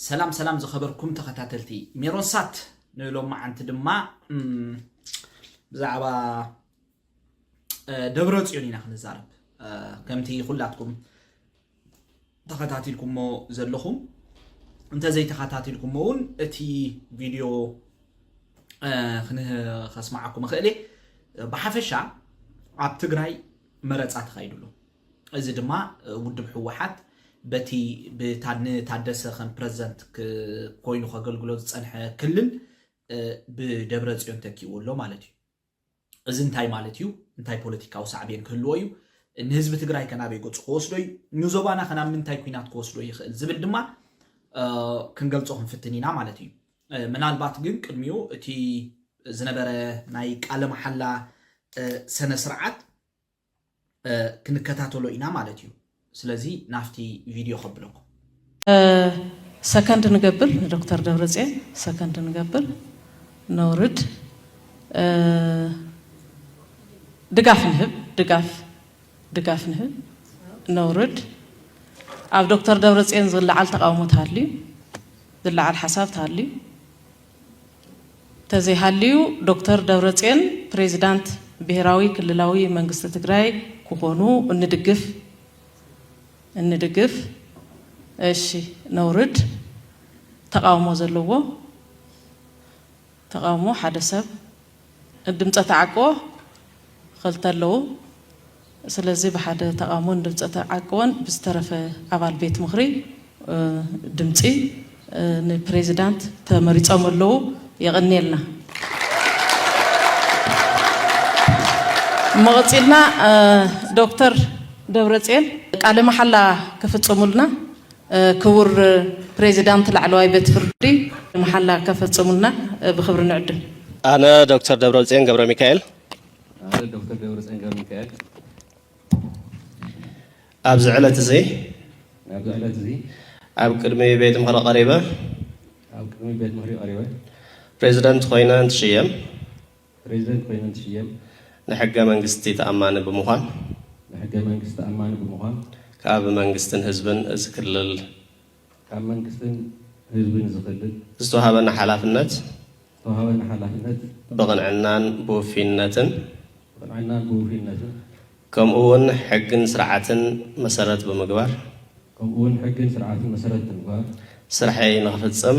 ሰላም ሰላም ዝኸበርኩም ተኸታተልቲ ሜሮን ሳት ንሎማዓንቲ ድማ ብዛዕባ ደብረ ፅዮን ኢና ክንዛረብ ከምቲ ኩላትኩም ተኸታቲልኩሞ ዘለኹም እንተዘይተኸታቲልኩሞ እውን እቲ ቪድዮ ከስማዓኩም እኽእል እየ ብሓፈሻ ኣብ ትግራይ መረፃ ተኻይዱ ኣሎ እዚ ድማ ውድብ ህወሓት በቲ ንታደሰ ከም ፕረዚደንት ኮይኑ ከገልግሎ ዝፀንሐ ክልል ብደብረፅዮን ተኪእዎ ኣሎ ማለት እዩ። እዚ እንታይ ማለት እዩ? እንታይ ፖለቲካዊ ሳዕቤን ክህልዎ እዩ? ንህዝቢ ትግራይ ከናበይ ገፁ ክወስዶ እዩ? ንዞባና ከናብ ምንታይ ኩናት ክወስዶ ይኽእል ዝብል ድማ ክንገልፆ ክንፍትን ኢና ማለት እዩ። ምናልባት ግን ቅድሚኡ እቲ ዝነበረ ናይ ቃለ መሓላ ሰነ ስርዓት ክንከታተሎ ኢና ማለት እዩ ስለዚ ናፍቲ ቪድዮ ከብለኩም። ሰከንድ ንገብር ንዶክተር ደብረፅዮን ሰከንድ ንገብር ነውርድ ድጋፍ ንህብ ድጋፍ ድጋፍ ንህብ ነውርድ ኣብ ዶክተር ደብረፅዮን ዝለዓል ተቃውሞ ተሃልዩ ዝለዓል ሓሳብ ተሃልዩ ተዘይሃልዩ ዶክተር ደብረፅዮን ፕሬዚዳንት ብሄራዊ ክልላዊ መንግስቲ ትግራይ ክኾኑ እንድግፍ እንድግፍ እሺ ነውርድ ተቃውሞ ዘለዎ ተቃውሞ ሓደ ሰብ ድምፀ ተዓቅቦ ኸልተ ኣለዉ። ስለዚ ብሓደ ተቓውሞን ድምፀ ተዓቅቦን ብዝተረፈ ኣባል ቤት ምኽሪ ድምፂ ንፕሬዚዳንት ተመሪፆም ኣለዉ። የቐንየልና። እሞ ቐፂልና ዶክተር ደብረፅዮን ቃለ መሓላ ክፍፅሙልና ክቡር ፕሬዚዳንት ላዕለዋይ ቤት ፍርዲ መሓላ ከፈፅሙልና ብኽብሪ ንዕድም። ኣነ ዶክተር ደብረፅዮን ገብረሚካኤል። ኣነ ዶክተር ደብረፅዮን ገብረሚካኤል። ኣብዚ ዕለት እዚ። ኣብዚ ዕለት እዚ። ኣብ ቅድሚ ቤት ምኽሪ ቀሪበ። ኣብ ቅድሚ ቤት ምኽሪ ቀሪበ። ፕሬዚደንት ኮይነ እንትሽየም። ፕረዚደንት ኮይኑ እንትሽየም። ንሕገ መንግስቲ ተኣማኒ ብምዃን። ንሕገ መንግስቲ ተኣማኒ ብምዃን። ካብ መንግስትን ህዝብን እዚ ክልል። ካብ መንግስትን ህዝብን እዚ ክልል። ዝተውሃበኒ ሓላፍነት። ዝተውሃበኒ ሓላፍነት። ብቕንዕናን ብውፍይነትን። ብቕንዕናን ብውፍይነትን። ከምኡ እውን ሕግን ስርዓትን መሰረት ብምግባር። ከምኡ እውን ሕግን ስርዓትን መሰረት ብምግባር። ስርሐይ ንኽፍፅም።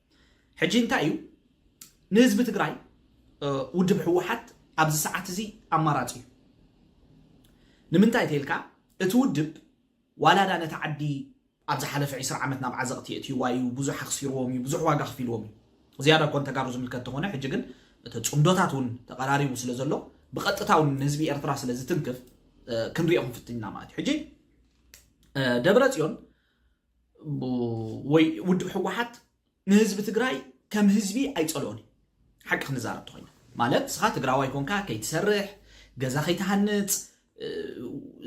ሕጂ እንታይ እዩ ንህዝቢ ትግራይ ውድብ ህወሓት ኣብዚ ሰዓት እዚ ኣማራፂ እዩ ንምንታይ ተልካ እቲ ውድብ ዋላዳ ነቲ ዓዲ ኣብ ዝሓለፈ 20 ዓመት ናብ ዓዘቕቲ የእትይዋ እዩ ብዙሕ ኣኽሲርዎም እዩ ብዙሕ ዋጋ ክፊልዎም እዩ ዝያዳ እኮ ንተጋሩ ዝምልከት ተኾነ ሕጂ ግን እቲ ፅምዶታት እውን ተቐራሪቡ ስለ ዘሎ ብቐጥታ እውን ንህዝቢ ኤርትራ ስለ ዝትንክፍ ክንሪኦ ክንፍትን ኢና ማለት እዩ ሕጂ ደብረ ፅዮን ወይ ውድብ ሕወሓት ንህዝቢ ትግራይ ከም ህዝቢ ኣይፀልኦን እዩ ሓቂ ክንዛረብ ተኮይና ማለት ንስኻ ትግራዋይ ኮንካ ከይትሰርሕ ገዛ ከይትሃንፅ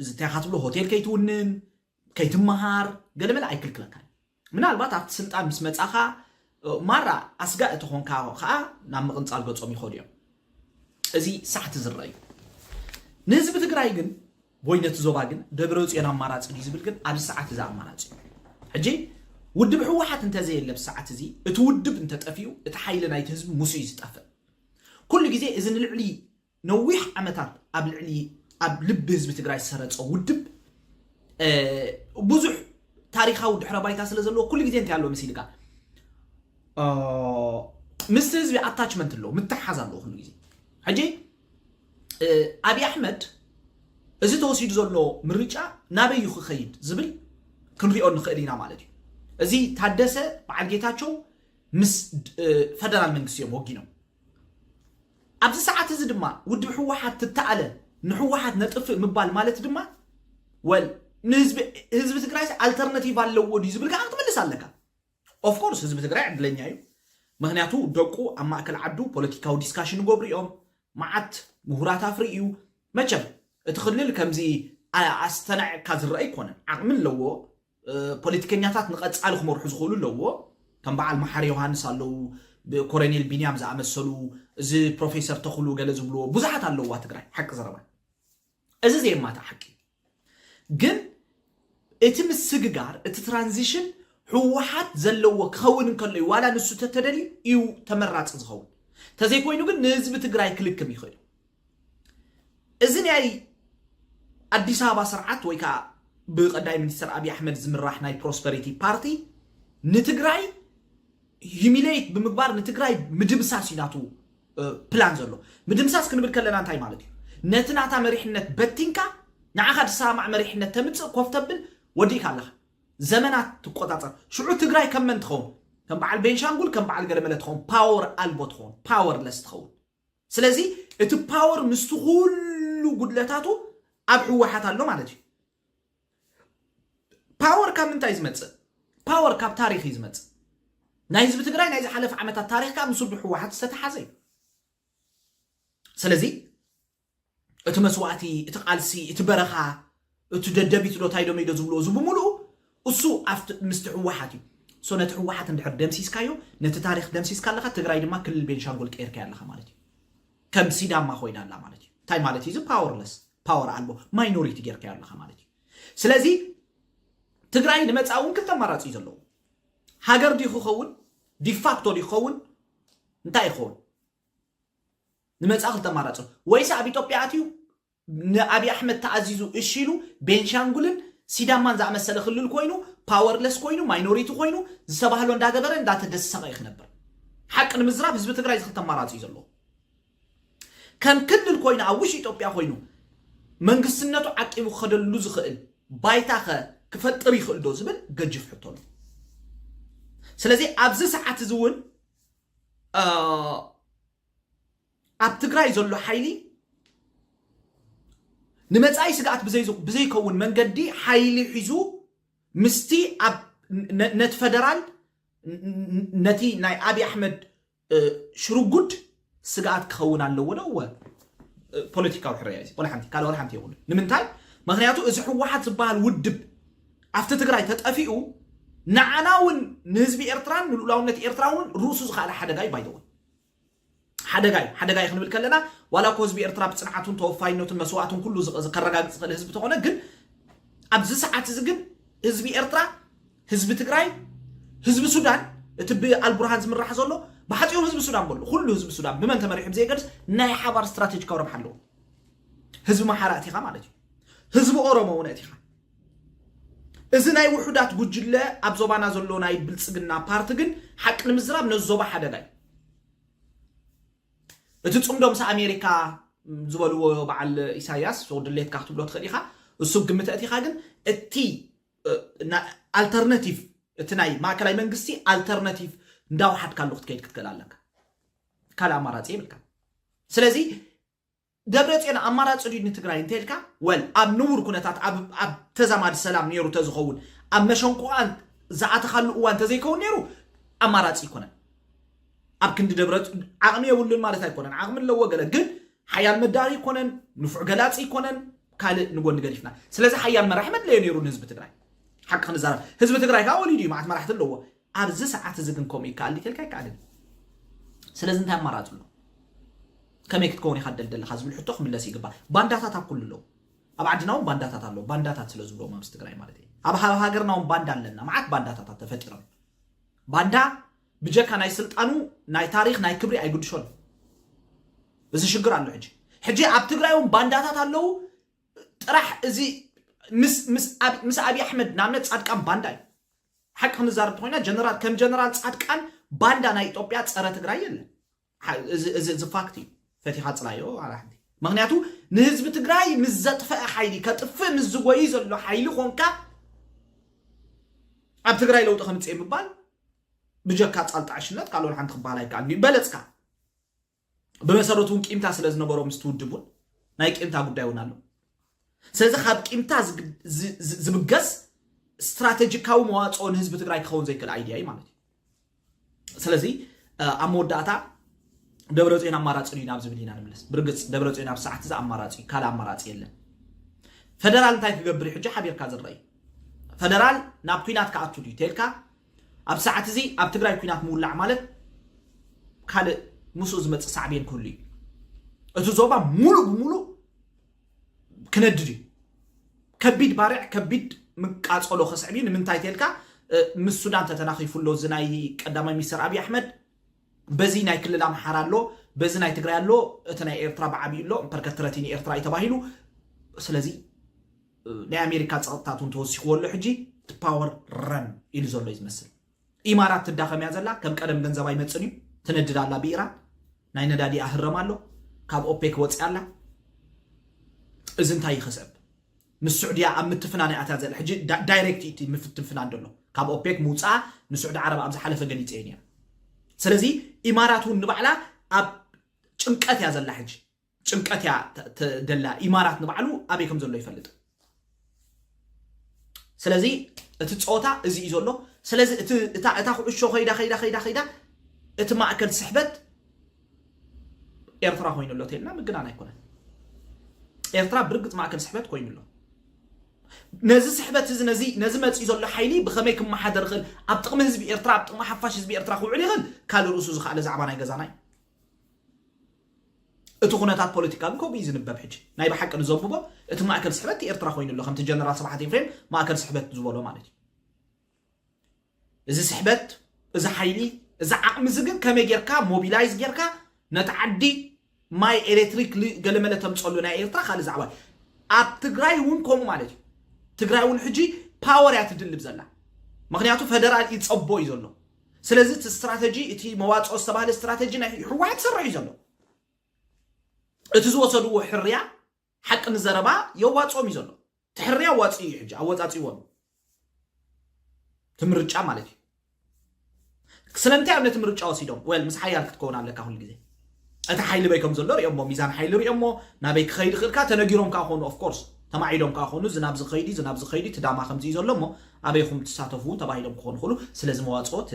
ዝታይኻ ትብሎ ሆቴል ከይትውንን ከይትመሃር ገለመለ ኣይክልክለካን ምናልባት ኣብቲ ስልጣን ምስ መፃኻ ማራ ኣስጋእ እተኾንካ ከዓ ናብ ምቕንፃል ገፆም ይኸዱ እዮም እዚ ሳሕቲ ዝረአ እዩ ንህዝቢ ትግራይ ግን ወይ ነቲ ዞባ ግን ደብረፅዮን ኣማራፂ ድዩ ዝብል ግን ኣብዚ ሰዓት እዚ ኣማራፂ እዩ ሕጂ ውድብ ህወሓት እንተዘየለ ኣብዚ ሰዓት እዚ እቲ ውድብ እንተጠፊኡ እቲ ሓይሊ ናይቲ ህዝቢ ምስ እዩ ዝጠፍእ ኩሉ ግዜ እዚ ንልዕሊ ነዊሕ ዓመታት ኣብ ልዕሊ ኣብ ልቢ ህዝቢ ትግራይ ዝሰረፀ ውድብ ብዙሕ ታሪካዊ ድሕረ ባይታ ስለ ዘለዎ ኩሉ ግዜ እንታይ ኣለዎ መሲልካ ምስቲ ህዝቢ ኣታችመንት ኣለዎ ምትሓዝ ኣለዎ ኩሉ ግዜ ሕጂ ኣብይ ኣሕመድ እዚ ተወሲዱ ዘሎ ምርጫ ናበይ እዩ ክኸይድ ዝብል ክንሪኦ ንኽእል ኢና ማለት እዩ እዚ ታደሰ በዓል ጌታቸው ምስ ፈደራል መንግስቲ እዮም ወጊኖም ኣብዚ ሰዓት እዚ ድማ ውድብ ህወሓት ትተኣለ ንህወሓት ነጥፍእ ምባል ማለት ድማ ወል ንህዝቢ ትግራይ ኣልተርናቲቭ ኣለዎ ድዩ ዝብል ከዓ ክትምልስ ኣለካ ኦፍ ኮርስ ህዝቢ ትግራይ ዕድለኛ እዩ ምክንያቱ ደቁ ኣብ ማእከል ዓዱ ፖለቲካዊ ዲስካሽን ይገብሩ እዮም መዓት ምሁራት ኣፍሪ እዩ መቸም እቲ ክልል ከምዚ ኣስተናዕቅካ ዝረአ ኣይኮነን ዓቕሚ ኣለዎ ፖለቲከኛታት ንቐጻሊ ክመርሑ ዝኽእሉ ኣለዎ ከም በዓል መሓሪ ዮሃንስ ኣለዉ ኮረኔል ቢንያም ዝኣመሰሉ እዚ ፕሮፌሰር ተኽሉ ገለ ዝብልዎ ብዙሓት ኣለዋ ትግራይ ሓቂ ዘረባ እዚ ዘየማትእ ሓቂ እዩ። ግን እቲ ምስግጋር እቲ ትራንዚሽን ህወሓት ዘለዎ ክኸውን እንከሎ እዩ። ዋላ ንሱ ተተደልዩ እዩ ተመራፂ ዝኸውን። ተዘይኮይኑ ግን ንህዝቢ ትግራይ ክልክም ይኽእል እዩ። እዚ ናይ ኣዲስ ኣበባ ስርዓት ወይ ከዓ ብቀዳይ ሚኒስትር ኣብዪ ኣሕመድ ዝምራሕ ናይ ፕሮስፐሪቲ ፓርቲ ንትግራይ ሂሚሌት ብምግባር ንትግራይ ምድምሳስ እዩ ናቱ ፕላን ዘሎ። ምድምሳስ ክንብል ከለና እንታይ ማለት እዩ? ነቲ ናታ መሪሕነት በቲንካ ንዓኻ ዝሰማማዕ መሪሕነት ተምጽእ ኮፍ ተብል ወዲእካ ኣለኻ። ዘመናት ትቆጻጸር። ሽዑ ትግራይ ከም መን ትኸውን? ከም በዓል ቤንሻንጉል ከም በዓል ገለመለ ትኸውን። ፓወር ኣልቦ ትኸውን። ፓወርለስ ትኸውን። ስለዚ እቲ ፓወር ምስቲ ኩሉ ጉድለታቱ ኣብ ህወሓት ኣሎ ማለት እዩ። ፓወር ካብ ምንታይ ዝመፅእ ፓወር ካብ ታሪክ እዩ ዝመፅእ ናይ ህዝቢ ትግራይ ናይ ዝሓለፈ ዓመታት ታሪክ ከዓ ምስ ውድብ ህወሓት ዝተተሓዘ እዩ ስለዚ እቲ መስዋእቲ እቲ ቃልሲ እቲ በረኻ እቲ ደደቢት ዶ ታይዶ መይዶ ዝብልዎ እዚ ብምሉኡ እሱ ኣብቲ ምስቲ ህወሓት እዩ ሶ ነቲ ህወሓት እንድሕር ደምሲስካዮ ነቲ ታሪክ ደምሲስካ ኣለካ ትግራይ ድማ ክልል ቤንሻንጉል ቀይርካያ ኣለካ ማለት እዩ ከም ሲዳማ ኮይና ኣላ ማለት እዩ እንታይ ማለት እዩ እዚ ፓወርለስ ፓወር ኣልቦ ማይኖሪቲ ጌርካዮ ኣለኻ ማለት እዩ ስለዚ ትግራይ ንመፃእ እውን ክልተ ኣማራፂ እዩ ዘለዎ ሃገር ድዩ ክኸውን ዲፋክቶ ድዩ ክኸውን እንታይ ይኸውን ንመፃእ ክልተ ኣማራፂ ኣሎ። ወይስ ኣብ ኢትዮጵያ ኣትዩ ንኣብዪ ኣሕመድ ተኣዚዙ እሺ ኢሉ ቤንሻንጉልን ሲዳማን ዝኣመሰለ ክልል ኮይኑ ፓወርለስ ኮይኑ ማይኖሪቲ ኮይኑ ዝተባህሎ እንዳገበረ እንዳተደሰቐ እዩ ክነብር ሓቂ ንምዝራብ ህዝቢ ትግራይ ዝክልተ ኣማራፂ እዩ ዘለዎ ከም ክልል ኮይኑ ኣብ ውሽጢ ኢትዮጵያ ኮይኑ መንግስትነቱ ዓቂቡ ክኸደሉ ዝኽእል ባይታ ከ ክፈጥር ይኽእል ዶ ዝብል ገጅፍ ሕቶ ኣሎ። ስለዚ ኣብዚ ሰዓት እዚ እውን ኣብ ትግራይ ዘሎ ሓይሊ ንመፃኢ ስግኣት ብዘይከውን መንገዲ ሓይሊ ሒዙ ምስቲ ኣብ ነቲ ፈደራል ነቲ ናይ ኣብዪ ኣሕመድ ሽርጉድ ስግኣት ክኸውን ኣለዎ ዶ? እወ። ፖለቲካዊ ሕረያ እዩ፣ ወላ ሓንቲ ካልእ ወላ ሓንቲ የብሉን። ንምንታይ? ምክንያቱ እዚ ህወሓት ዝበሃል ውድብ ኣብቲ ትግራይ ተጠፊኡ ንዓና እውን ንህዝቢ ኤርትራን ንልኡላውነት ኤርትራ እውን ርእሱ ዝኸኣለ ሓደጋ እዩ ባይተወይ ሓደጋይ ሓደጋይ ክንብል ከለና ዋላ እኮ ህዝቢ ኤርትራ ብፅንዓቱን ተወፋይነቱን መስዋእቱን ኩሉ ከረጋግፅ ዝኽእል ህዝቢ ተኾነ ግን ኣብዚ ሰዓት እዚ ግን ህዝቢ ኤርትራ ህዝቢ ትግራይ ህዝቢ ሱዳን እቲ ብኣልቡርሃን ዝምራሕ ዘሎ ብሓፂሩ ህዝቢ ሱዳን በሉ ኩሉ ህዝቢ ሱዳን ብመን ተመሪሑ ብዘይገድስ ናይ ሓባር ስትራቴጂካዊ ረብሓ ኣለዎ ህዝቢ ማሓራ እቲኻ ማለት እዩ ህዝቢ ኦሮሞ እውን እቲኻ እዚ ናይ ውሑዳት ጉጅለ ኣብ ዞባና ዘሎ ናይ ብልፅግና ፓርቲ ግን ሓቂ ንምዝራብ ነዚ ዞባ ሓደጋ እዩ እቲ ፅምዶ ምስ ኣሜሪካ ዝበልዎ በዓል ኢሳያስ ድሌትካ ክትብሎ ትኽእል ኢኻ እሱ ግምት እቲኻ ግን እቲ ኣልተርነቲቭ እቲ ናይ ማእከላይ መንግስቲ ኣልተርነቲቭ እንዳወሓድካሉ ክትከይድ ክትክእል ኣለካ ካልእ ኣማራፂ የብልካ ስለዚ ደብረ ፅዮን ኣማራፂ ድዩ ንትግራይ እንተልካ ወል ኣብ ንቡር ኩነታት ኣብ ተዛማዲ ሰላም ነይሩ ተዝኸውን ኣብ መሸንቁቓን ዝኣተኻሉ እዋን ተዘይከውን ነይሩ ኣማራፂ ይኮነን ኣብ ክንዲ ደብረ ዓቕሚ የብሉን ማለት ኣይኮነን ዓቕሚ ኣለዎ ገለ ግን ሓያል መዳሪ ኣይኮነን፣ ንፉዕ ገላጺ ኣይኮነን፣ ካልእ ንጎኒ ገዲፍና። ስለዚ ሓያል መራሒ መድለዮ ነይሩ ንህዝቢ ትግራይ። ሓቂ ክንዛረብ ህዝቢ ትግራይ ከዓ ወሊዱ እዩ፣ መዓት መራሕቲ ኣለዎ። ኣብዚ ሰዓት እዚ ግን ከምኡ ይከኣል ዲተልካ ኣይከኣልን እዩ። ስለዚ እንታይ ኣማራፂ ኣሎ? ከመይ ክትከውን ኢኻ ደል ዘለኻ ዝብል ሕቶ ክምለስ ይግባእ። ባንዳታት ኣብ ኩሉ ኣለዉ። ኣብ ዓድና እውን ባንዳታት ኣለዉ። ባንዳታት ስለ ዝብሎም ኣብዚ ትግራይ ማለት እዩ። ኣብ ሃገርና እውን ባንዳ ኣለና። መዓት ባንዳታታት ተፈጢሮም ባንዳ ብጀካ ናይ ስልጣኑ ናይ ታሪኽ ናይ ክብሪ ኣይግድሾን እዚ ሽግር ኣሎ ሕጂ ሕጂ ኣብ ትግራይ እውን ባንዳታት ኣለዉ ጥራሕ እዚ ምስ ኣብዪ ኣሕመድ ንኣብነት ፃድቃን ባንዳ እዩ ሓቂ ክንዛረብ ተኮይና ጀነራል ከም ጀነራል ፃድቃን ባንዳ ናይ ኢትዮጵያ ፀረ ትግራይ የለን እዚ እዚ ፋክት እዩ ፈቲኻ ፅላዮ ዋላ ሓንቲ ምክንያቱ ንህዝቢ ትግራይ ምስ ዘጥፈአ ሓይሊ ከጥፍእ ምስ ዝጎይ ዘሎ ሓይሊ ኮንካ ኣብ ትግራይ ለውጢ ከምፅእ ምባል ብጀካ ፃልጣ ዕሽነት ካልኦን ሓንቲ ክበሃል ኣይከኣልን እዩ በለፅካ ብመሰረቱ እውን ቂምታ ስለ ዝነበሮ ምስ ትውድብ እውን ናይ ቂምታ ጉዳይ እውን ኣሎ ስለዚ ካብ ቂምታ ዝብገስ ስትራቴጂካዊ መዋፅኦ ንህዝቢ ትግራይ ክኸውን ዘይክእል ኣይድያ እዩ ማለት እዩ ስለዚ ኣብ መወዳእታ ደብረ ፅዮን ኣማራፂ እዩ ናብ ዝብል ኢና ንምለስ ብርግፅ ደብረ ፅዮን ኣብ ሰዓት እዚ ኣማራፂ እዩ ካልእ ኣማራፂ የለን ፈደራል እንታይ ክገብር እዩ ሕጂ ሓቢርካ ዝረአ እዩ ፈደራል ናብ ኩናት ክኣቱ ድዩ ተልካ ኣብ ሰዓት እዚ ኣብ ትግራይ ኩናት ምውላዕ ማለት ካልእ ምስኡ ዝመፅእ ሳዕቤን ክህሉ እዩ እቲ ዞባ ሙሉእ ብሙሉእ ክነድድ እዩ ከቢድ ባርዕ ከቢድ ምቃፀሎ ከስዕብ እዩ ንምንታይ ተልካ ምስ ሱዳን ተተናኺፉ ኣሎ እዚ ናይ ቀዳማይ ሚኒስትር ኣብዪ ኣሕመድ በዚ ናይ ክልል ኣምሓራ ኣሎ በዚ ናይ ትግራይ ኣሎ እቲ ናይ ኤርትራ ብዓብዩ ኣሎ ፐርከትረቲ ንኤርትራ እዩ ተባሂሉ ስለዚ ናይ ኣሜሪካ ፀቕጥታት እውን ተወሲኽዎ ኣሎ ሕጂ ፓወር ረን ኢሉ ዘሎ እዩ ዝመስል ኢማራት ትዳኸም እያ ዘላ ከም ቀደም ገንዘብ ኣይመፅን እዩ ትነድድ ኣላ ብኢራን ናይ ነዳዲኣ ህረም ኣሎ ካብ ኦፔክ ወፅያ ኣላ እዚ እንታይ ይኸሰብ ምስ ስዑድያ ኣብ ምትፍናን እያ እታ ዘላ ሕጂ ዳይሬክት እቲ ምፍትንፍናን ደሎ ካብ ኦፔክ ምውፃኣ ንስዑዲ ዓረብ ኣብ ዝሓለፈ ገሊፀ እየን እያ ስለዚ ኢማራት እውን ንባዕላ ኣብ ጭንቀት እያ ዘላ ሕጂ ጭንቀት እያ ደላ ኢማራት ንባዕሉ ኣበይ ከም ዘሎ ይፈልጥ ስለዚ እቲ ፀወታ እዚ እዩ ዘሎ ስለዚ እታ ኩዕሾ ከይዳ ከይዳ ከይዳ ከይዳ እቲ ማእከል ስሕበት ኤርትራ ኮይኑ ኣሎ ተልና ምግናን ኣይኮነን ኤርትራ ብርግፅ ማእከል ስሕበት ኮይኑ ኣሎ ነዚ ስሕበት እዚ ነዚ ነዚ መፅኢ ዘሎ ሓይሊ ብኸመይ ክመሓደር ይኽእል ኣብ ጥቕሚ ህዝቢ ኤርትራ ኣብ ጥቕሚ ሓፋሽ ህዝቢ ኤርትራ ክውዕል ይኽእል ካልእ ርእሱ ዝኸኣለ ዛዕባ ናይ ገዛና እዩ እቲ ኩነታት ፖለቲካ ግን ከምኡ እዩ ዝንበብ ሕጂ። ናይ ብሓቂ ንዘንብቦ እቲ ማእከል ስሕበት እቲ ኤርትራ ኮይኑ ኣሎ ከምቲ ጀነራል ስብሓት ኤፍሬም ማእከል ስሕበት ዝበሎ ማለት እዩ። እዚ ስሕበት እዚ ሓይሊ እዚ ዓቕሚ እዚ ግን ከመይ ጌርካ ሞቢላይዝ ጌርካ ነቲ ዓዲ ማይ ኤሌክትሪክ ገለመለ ተምፀሉ ናይ ኤርትራ ካልእ ዛዕባ ኣብ ትግራይ እውን ከምኡ ማለት እዩ ትግራይ እውን ሕጂ ፓወር እያ ትድልብ ዘላ ምክንያቱ ፈደራል ይፀቦ እዩ ዘሎ ስለዚ እቲ ስትራተጂ እቲ መዋፅኦ ዝተባህለ ስትራተጂ ናይ ህወሓት ይሰርሕ እዩ ዘሎ እቲ ዝወሰድዎ ሕርያ ሓቂ ንዘረባ የዋፅኦም እዩ ዘሎ እቲ ሕርያ ኣዋፂኡ እዩ ሕጂ ኣወፃፂዎም እቲ ምርጫ ማለት እዩ ስለምንታይ እዮም ነቲ ምርጫ ወሲዶም ወል ምስ ሓያል ክትከውን ኣለካ ኩሉ ግዜ እቲ ሓይሊ በይ ከም ዘሎ ሪኦሞ ሚዛን ሓይሊ ሪኦሞ ናበይ ክኸይድ ይኽእል ከኣ ተነጊሮም ከኣ ኮኑ ኦፍ ኮርስ ተማዒዶም ከኣ ኮኑ እዚ ናብዚ ከይዲ እዚ ናብዚ ከይዲ እቲ ዳማ ከምዚ እዩ ዘሎ እሞ ኣበይኹም ትሳተፉ እውን ተባሂሎም ክኾኑ ይኽእሉ ስለዚ መዋጽኦት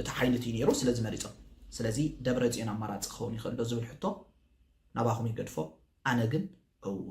እቲ ሓይሊ እቲ ነይሩ ስለዚ መሪጾም ስለዚ ደብረ ጽዮን ኣማራጺ ክኸውን ይኽእል ዶ ዝብል ሕቶ ናባኹም ይገድፎ ኣነ ግን እወ